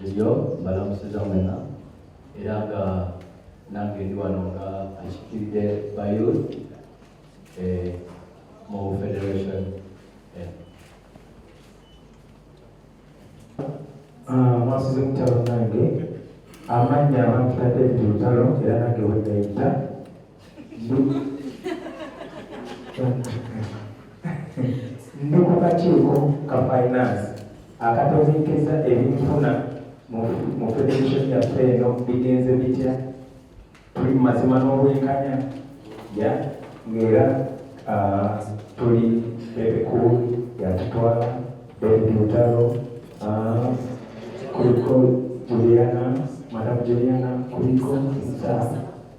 Junior mbalamusiza mwena era nga nange ndi wano nga akikiridde bayo eh, mu federation eh. ah, mwasize mutalo nange amannya abantu na david lutalo era nange wegayita ndi ku kakiiko ka finance akategeekeza ebinfuna mu federation yaffe eno bigenze bitya tuli mu mazima n'obwenkanya ya ng'era ah, tuli ebikulu yatutwala david mutalo ah, kuliko juliana madamu juliana kuliko nsa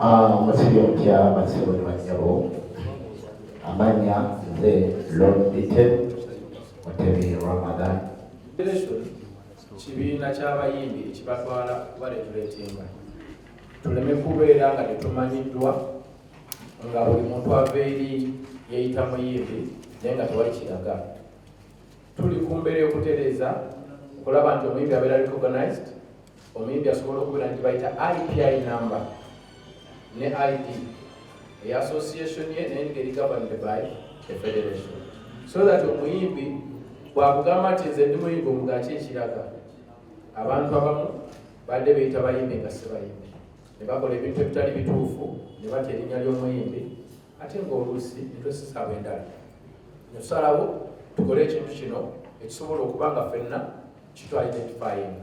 omusajja omutya bassebo ne bannyabo amanya nze lord dite mutebi ramadan kibiina ky'abayimbi ekibatwala kuba letuleetenga tuleme kubeera nga tetumanyiddwa nga buli muntu ava eri yeyita muyimbi naye nga tewali kiraga tuli ku mbeera okutereeza okulaba nti omuyimbi abeera recognized omuyimbi asobola okubeera nti bayita ipi number ne id eya association ye naye nga eri governed by the federation so that omuyimbi bwakugamba nti nze ndi muyimbi omugaki ekiraga abantu abamu badde beyita bayimbi nga sibayimbi ne bakola ebintu ebitali bituufu ne batya erinnya ly'omuyimbi ate ngaoluusi netwesisaba endala netusalawo tukole ekintu kino ekisobola okuba nga fenna kitu identifying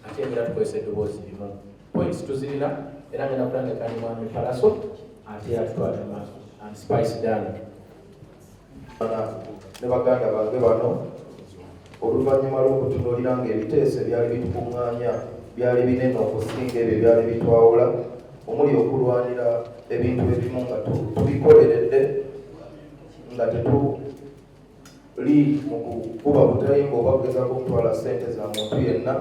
ate era tukozesa eddoboozi limu points tuzirina era ngenda kulangeka ni mwami palaso ate era tutwala mu maaso and spice dana ne baganda bange bano oluvannyuma lw'okutunuulira nga ebiteeso ebyali bitukuŋŋaanya byali binene okusinga ebyo byali bitwawula omuli okulwanira ebintu ebimu nga tubikoleredde nga li mu kukuba butayimba oba kugezako okutwala ssente za muntu yenna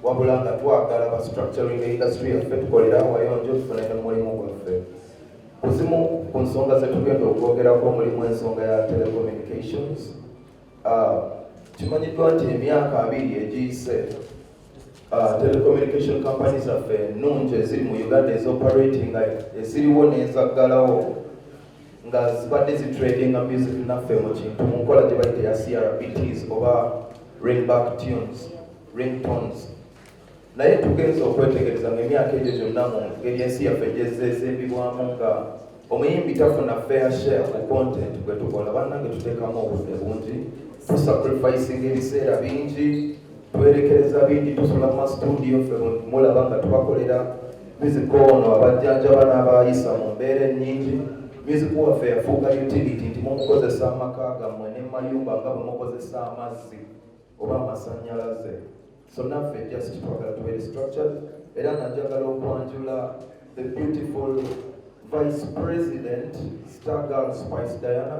wabula nga twagala ba structuring industry yaffe tukolera awayonjo tufune ne mulimu gwaffe ku zimu ku nsonga zetugenda okwogerako mulimu ensonga ya telecommunications ah, kimanyiddwa nti emyaka abiri egiyise ah, telecommunication company zaffe ennungi eziri mu uganda ezoperatinga eziriwo nezaggalawo nga zibadde zitradinga music naffe mu kintu mu nkola gye bayita ya crpts oba ringback tunes ringtones naye tugenza okwetegereza nga emyaka egyo gyonna mu ngeri ensi yaffe gyezeezimbibwamu nga omuyimbi tafuna fair share ku content gwe tukola bannange tuteekamu obudde bungi tusacrificing ebiseera bingi twerekereza bingi tusula mu studio ffe mulaba nga tubakolera music ono abajjanjaba n'abayisa mu mbeera ennyingi music waffe yafuuka utility nti mumukozesa amaka gammwe ne mayumba nga bwe mukozesa amazzi oba amasannyalaze so naffe just twagala tubeere structured era najagala okwanjula the beautiful vice president star girl spice diana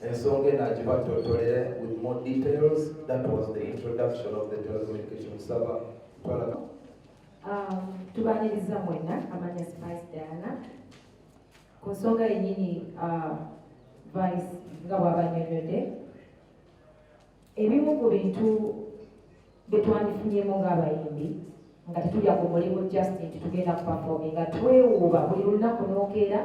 ensonga eno agibatotolere with more details that was the introduction of the telecommunication saba twala um, tubaniriza mwena amanya spice diana ku nsonga yenyini uh, vice nga bwabanyonyode ebimu ku bintu byetwandifunyemu ng'abayimbi nga tetulya ku mulimu just nti tugenda kupafominga twewuuba buli lunaku nokeera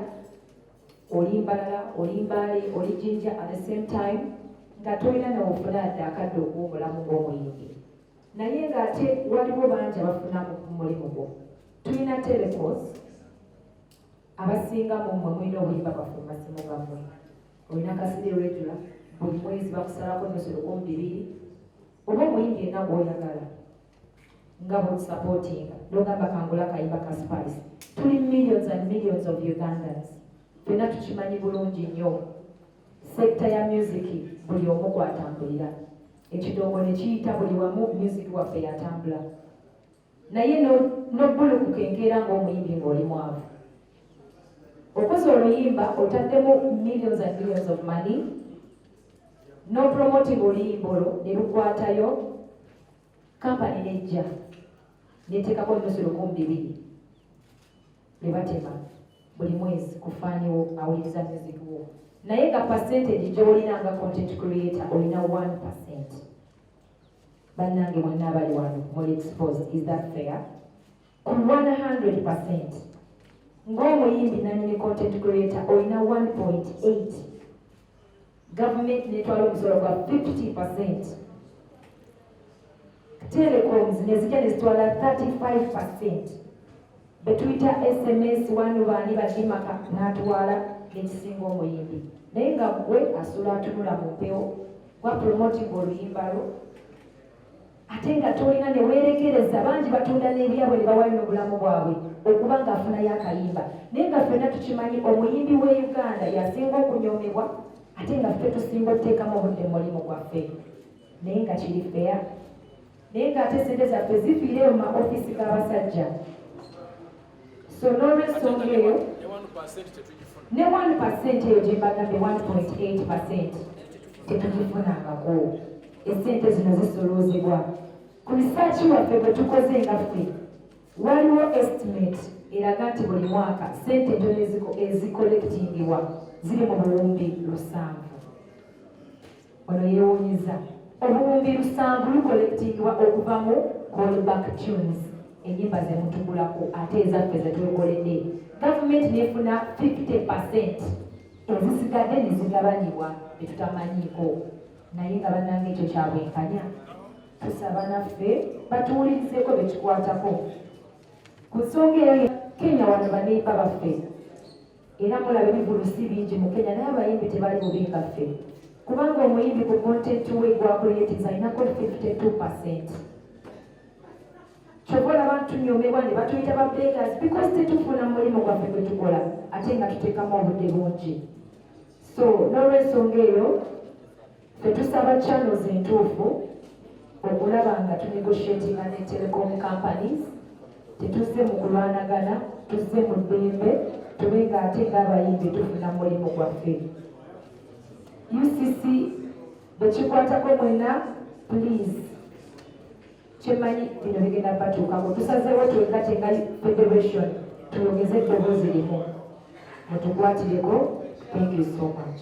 oli mbalala oli mbaale oli jinja at the same time nga tolina newofuna adde akadde okuwumulamu ngaomuyimbi naye nga ate waliwo bangi abafuna mulimu gwo tulina telecos abasinga mumwe mulina obuyimba bwaffe mumasimu gamwe olina kasidi regula buli mwezi bakusalako nosolokomu bibiri oba omuyimbi enagwoyagala nga bwotusapootinga nogamba kangula kayimba ka spice tuli millions and millions of ugandans fena tukimanyi bulungi nnyo sekita ya music buli omu gwatambulira ekidongo nekiyita buli wamu music waffe yatambula naye nobulukuka enkeera ngaomuyimbi ngaoli mwavu okoze oluyimba otaddemu millions and millions of money nopromoting oluyimba olwo nelukwatayo kampani nejja neteekako nusu lukumi bibiri ne batema buli mwezi ku faaniwo awuliriza music wo naye nga percentage gyolina nga content creator olina 1 percent bannange mwenna abali wano muli exposed is that fair ku 100 percent ng'omuyimbi nanyini content creator olina 1.8 gavumenti netwala omusolo gwa 50 percent telecoms nezija nezitwala 35 percent betuyita sms wanu baani badimaka natwala nekisinga omuyimbi naye nga gwe asula atunula mu mpewo gwa promoting oluyimba lwo ate nga tolina ne weerekereza bangi batunda n'ebyabwe ne bawayo n'obulamu bwabwe okuba ng'afunayo akayimba naye nga ffenna tukimanyi omuyimbi w'e uganda yasinga okunyoomebwa ate nga ffe tusinga okuteekamu obudde mu mulimu gwaffe naye nga kiri feya naye ng'ate sente zaffe zifiireyo mu maofiisi g'abasajja so n'olwensonga eyo ne 1 pasenti eyo gye mbagambye 1.8 pasenti tetugifunangako esente zino zisoloozebwa ku risaaki waffe bwe tukoze nga ffe waliwo estimate eraga nti buli mwaka sente ntono ezikolekitingibwa ziri mu buwumbi lusanvu Ono yeewunyizza obuwumbi lusanvu lukolekitingibwa okuva mu callback tunes enyimba ze mutugulako ate ezaffe ze twekoledde gavumenti neefuna 50 percent ezisigadde ne zigabanibwa be tutamanyiiko naye nga bannanga ekyo kya bwenkanya tusaba naffe batuwulirizeeko be kikwatako ku nsonga eyo kenya wano baneiba baffe era mulaba ebivulu si bingi mu kenya naye abayimbi tebali bubi nga ffe kubanga omuyimbi ku content we gwakuleeteza alinako 52 percent kyova olaba ntunyomebwa ne batuyita ba beggers because tetufuna mulimu gwaffe gwe tukola ate nga tuteekamu obudde bungi so n'olwensonga eyo Tetusaba channels entuufu okulaba nga tunegotiatinga ne telecom companies tetuzze mu kulwanagana tuzze mu ddembe tube nga ate ng'abayimbi tufuna mulimu gwaffe ucc bwekikwatako mwena please kyemanyi bino bigenda batuukako tusazeewo twegate nga federation tuyogeze eddoboozi limu mutukwatireko thank you so much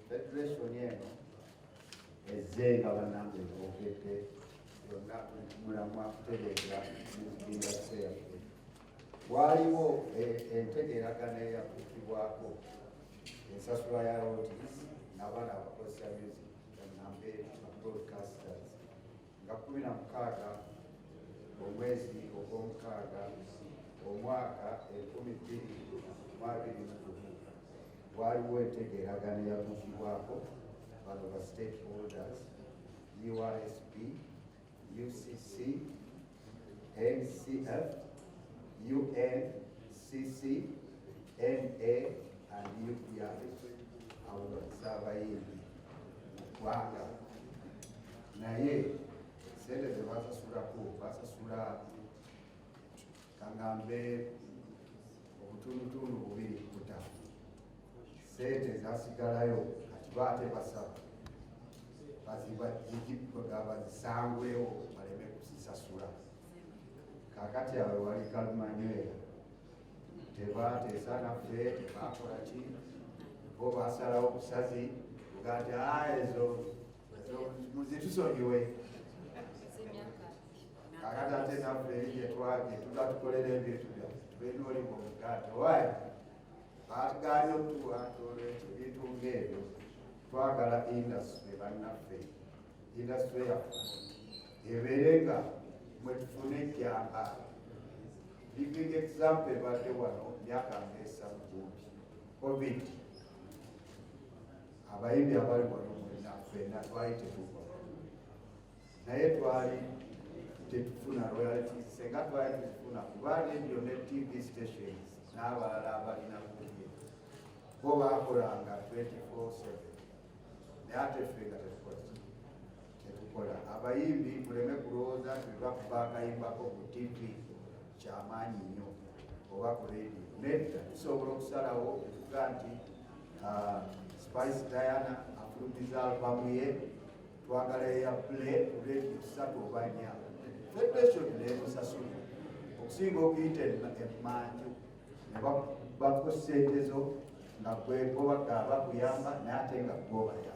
Federation eno ezze nga banange boogedde yonna mulamwa kutegeeza indasite yaffe waaliwo e- entegeeragana eyakuukibwako ensasula ya rotis n'abaana abakozesa music nambe broadcasters nga kkumi na mukaaga omwezi ogw'omukaaga omwaka enkumi bbiri mu abiri mu gumu waliwo entegeeragana eyatuukibwako bano ba state holders URSP, UCC, NCF, UNCC, NA and UPR. Abo bakisa abayimbi mu ggwanga naye sente zebasasulako basasula kangambe obutundutundu bubiri kuta sente zasigalayo kati baate basaba bazibazisangwewo baleme kusisasula kakati awe wali kalumanywera tebateesa naffe tebakola ki bo basalawo busazi ugati ezo muzitusonyiwe kakati ate naffe eri gyetwage tuga tukolera ebintu byaffe tubeera oli mu muganda owaye baatugaanye okutuwa tolwekyo ebintu ng'ebyo twagala indasitule bannaffe indasitule yaffe ebeere nga mwe tufune ejjamba living example ebadde wano myaka ngeesa mu covid abayimbi abali wano mwena fena twali tetuva naye twali tetufuna royalty senga twali tetufuna kuba radio ne tv stations n'abalala abalina kuye bo baakolanga 24/7 naye ate ffe nga tetukola kyetukola abayimbi muleme kulowooza nti lwakuba akayimbako ku tv kyamaanyi nnyo oba ku radio nedda tusobola okusalawo okuga nti ah, spice diana afulumiza albamu ye twagala eya play ku radio kusatu oba nya federation nemusasula okusinga okuyita emmanju nebakuba ku sente zo nga gwegobaga bakuyamba naye ate nga gwobayamba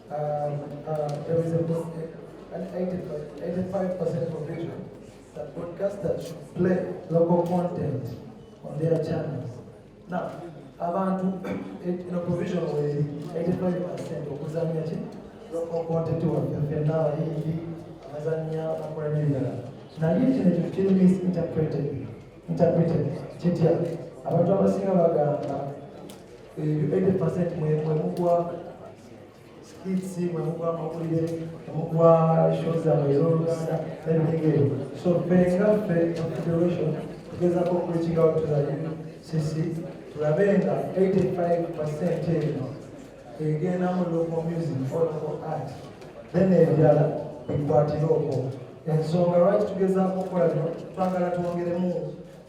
Um, um, there is a, an 85% provision that broadcasters should play local content on their channels. Now, abantu ino provision weri 85% okuzanya ki local content waffe fenna abayimbi abazanya bakola n'ebirala naye kino ekyo kiri misinterpreted interpreted kitya abantu abasinga bagamba 80% mwe mwe mugwa skits mwe mugwa amawulire mwe mugwa show zammwe ez'oluganda n'ebigegere so ffe nga ffe federation tugezako okureaching out to the UCC tulabe nga 85% eno egenda mu local music or local art then ebirala bikwatire okwo ensonga lwaki tugezaako okukola bino twagala twongeremu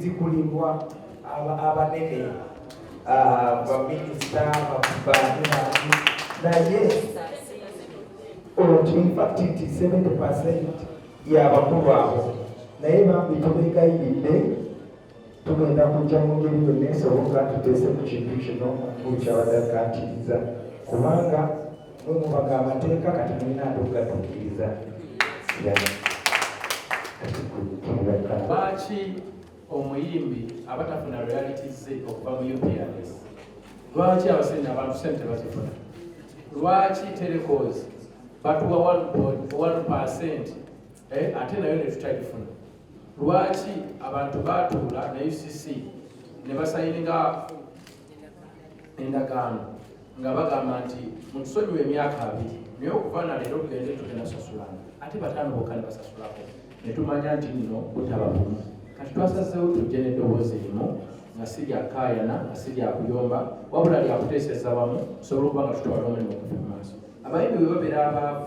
zikulimbwa abanene ah, baminisita naye olwo infact nti 70 percent yabakulu abo naye bambi tubegayiridde tugenda kujja mu ngeri yonna esoboka tuteese ku kintu kino kukyabadde akatiriza kubanga mumubaga amateeka kati mulina ate okugatuukiriza lwaki omuyimbi abatafuna realities ze okuva mu uprs lwaki abasente abantu sente tebazifuna lwaki telecos batuwa 1 percent eh, ate nayo netutagifuna lwaki abantu batuula ne ucc ne basayininga endagaano nga bagamba nti mutusonyiwa emyaka abiri naye okuva na leero tugende tugenda sasulana ate bataano bokka ne basasulako ne tumanya nti nno butaba bumu kati twasazeewo tujje n'eddoboozi limu nga si lya kaayana nga si lya kuyomba wabula lya kuteeseza wamu tusobole okuba nga tutwala omulimu okuva mu maaso abayimbi bwe babeera abaavu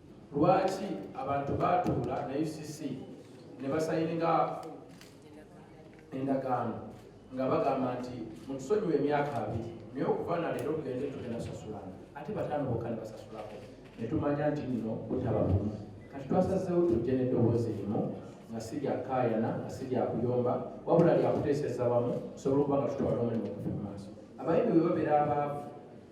Lwaki abantu baatuula na UCC ne basayininga endagaano nga bagamba nti mutusonyiwa emyaka abiri naye okuva na leero tugende tugenda sasulana ate bataano bokka ne basasulako ne tumanya nti nno butaba bumu kati twasazeewo tujje n'eddoboozi erimu nga si lya kaayana nga si lya kuyomba wabula lya kuteeseza wamu tusobole okuba nga tutwala omulimu okuva mu maaso abayimbi bwe babeera abaavu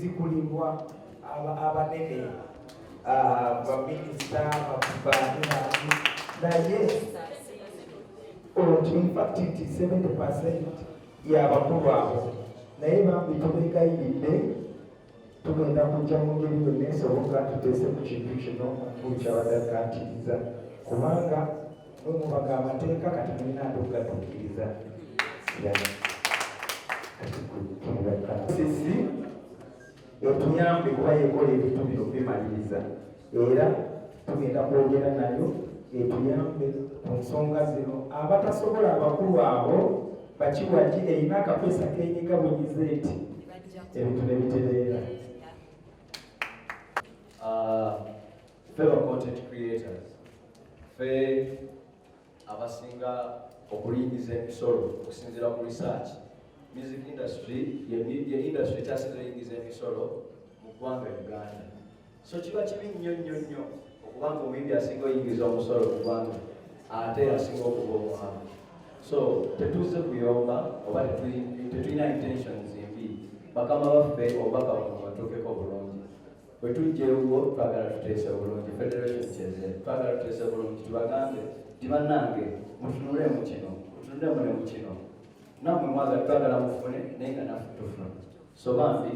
zikulimbwa abanene ah, baminisita naye oti infacti 70 percent yabakulu abo naye bambi tubegayiridde tugenda kujja mu ngeri yonna esoboka tuteese ku kintu kino okukyabadde akatiriza kubanga mwe mubaga amateeka kati mulina ate okugatuukiriza sisi etuyambe kuba yekola ebintu bino bimaliriza era tugenda kwogera nayo etuyambe ku nsonga zino abatasobola abakulu abo bakiwagi erina akapesa kenyiga bunyize eti ebintu nebitereera ah, ffe ba content creators ffe abasinga okulingiza emisolo okusinziira ku research music industry ye industry ekyasinza eyingiza emisolo mu ggwanga uganda so kiba kibi nnyo nnyo nnyo okubanga omuyimbi asinga oyingiza omusolo mu ggwanga ate asinga okuba omuhamu so tetuze kuyomba oba tetulina intentions embi bakama baffe obubaka buno batuukeko bulungi bwe tujja ewuwo twagala tuteese obulungi federation kyeze twagala tuteese obulungi tubagambe nti bannange mutunule mu kino mutunule mune mu kino namwe mwaga twagala mufune naye nga nafe tufuna so bambi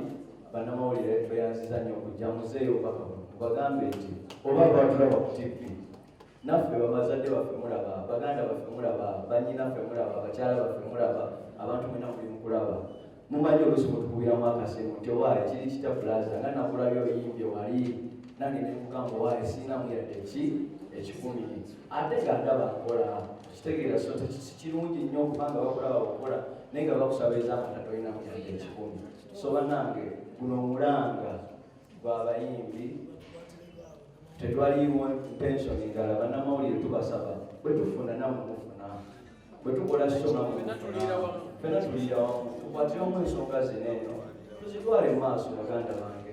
bannamawulire tweyanziza nnyo okujja muzeeyo obubaka buno mubagambe nti oba lwatulaba ku tivi naffe babazadde baffe mulaba baganda baffe mulaba banyinaffe mulaba bakyala baffe mulaba abantu mwena muli mukulaba mumanyi olusi mutukubiramu akasemu nti owaaye kiri kita bulaza nga nakulabya oyimbye wali nange nemugamba owaaye sinamu yadde ki ekikumi ate nga ndaba nkola kitegeera so kirungi nnyo okubanga bakulaba wakola naye nga bakusaba ezamata tolinamu yadde ekikumi so banange guno omulanga gwabayimbi tetwaliiwo pension endala banamawulire tubasaba bwetufuna nawe mufuna bwetukola soma fena tuliira wamu tukwatire omu ensonga zino eno tuzitwale mu maaso baganda bange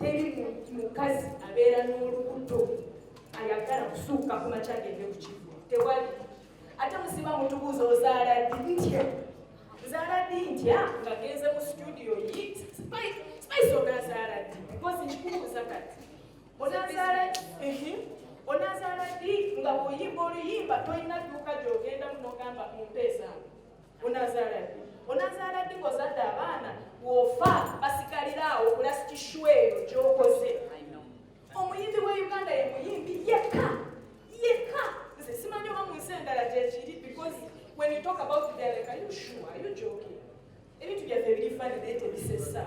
teri mukazi abeera n'olubuto ayagala kusuuka ku makya agende ku kigo tewali ate musiba mutubuuza ozaala ddi ntya nzaala ddi ntya nga genze mu situdiyo yi spice onazaala ddi bikozi nkikubuuza kati onazaala onazaala ddi nga bwoyimba oluyimba tolina dduuka gyogenda munogamba mumpeezaamu onazaala ddi onazaala ddi ng'ozadde abaana wofa basigalira awo kulasitishwa eyo gyokoze omuyimbi wa uganda ye muyimbi yekka yekka nze simanyi oba mu nsi endala gyekiri because when you talk about the like are you sure are you joking ebintu byaffe ebiri fani naye tebisesa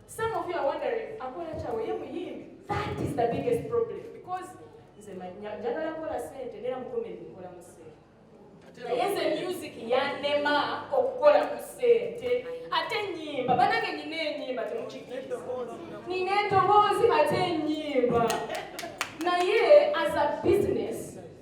Some of you are wondering, akola kyawe ye muyimbi. That is the biggest problem because nze njagala kola sente nera mu comedy nkola mu sente. Naye nze music yannema okukola ku sente ate ennyimba banange nina ennyimba temukikkiriza nina endoboozi ate ennyimba naye as a business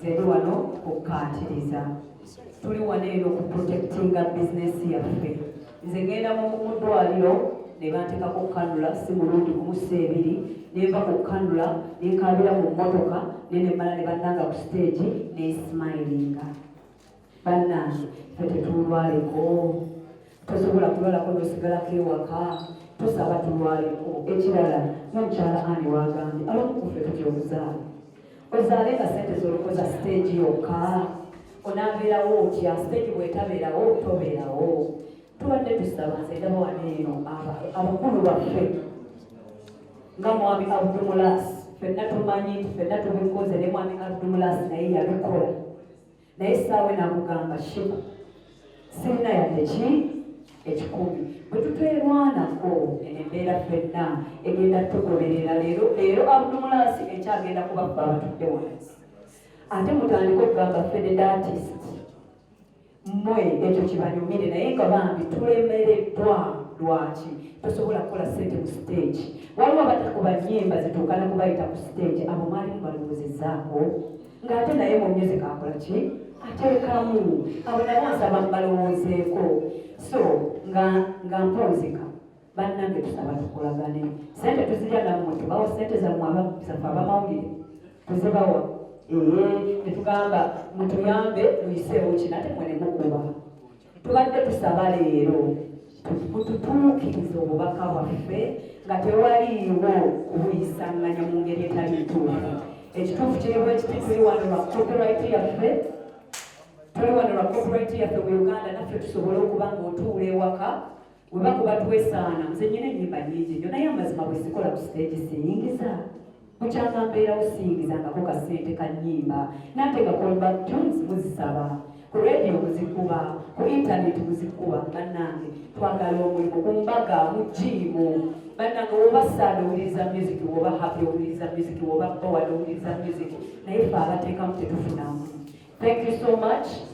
Zeri wano kukkaatiriza tuli wano eno ku protectinga bizinesi yaffe nze ngenda mu ddwaliro ne banteekako kukanula si mulundi kumusa ebiri nenva ku kukanula nenkaabira mu mmotoka ne nemmala ne bannanga ku siteegi nesimayiringa bannange fe tetulwaleko tosobola kulwalako nosigalako ewaka tusaba tulwaleko ekirala nomukyala ani wagambye abamukufe tutya obuzaala ozaale nga sente zolokoza siteegi yokka onabeerawo otya siteegi bwetabeerawo tobeerawo tubadde tusaba nze ndaba wano eno abakulu baffe nga mwami abdumulas fenna tumanyi nti fenna tubikoze ne mwami abdumulas naye yabikola naye saawe namugamba shiba sirina yadde ki ekikumi bwe tuteerwanako eno embeera fenna egenda tugoberera leero leero abdumulaasi ekyagenda kubaffe abatudde wansi ate mutandika okugamba fededatist mwe ekyo kibanyumire naye nga bambi tulemereddwa lwaki tosobola kukola sente mu siteegi waliwo abatakuba nyimba zituukana kubayita ku siteegi abo mwalimu balowoozezaako ng'ate naye mu music akola ki ateekamu abo nabo nsaba mbalowoozeeko so nga nga mponzika bannange tusaba tukolagane sente tuzirya nammwe tubawa sente zammwe abazaffe abamawulire tuzibawa ee netugamba mutuyambe muyiseewo kino ate mwenemukuba tubadde tusaba leero mututuukirize obubaka bwaffe nga tewaliiwo kubuyisanganya mu ngeri etali ntuufu ekituufu kiri bwekiti tuli wano lwa copyright yaffe tuli wano lwa copyright yaffe mu uganda naffe tusobole okuba nga otuula ewaka weba kuba twesaana nze nyina enyimba nyingi nyo naye amazima bwezikola ku siteegi siyingiza mukyanga mbeerawo siyingizangako ka ssente ka nyimba nate nga callback tunes muzisaba ku radio muzikuba ku intaneti muzikuba bannange twagala omulimu ku mbaga mu jiimu bannange woba saada owuliriza music woba happy owuliriza music woba bowad owuliriza music naye fe abateekamu tetufunamu thank you so much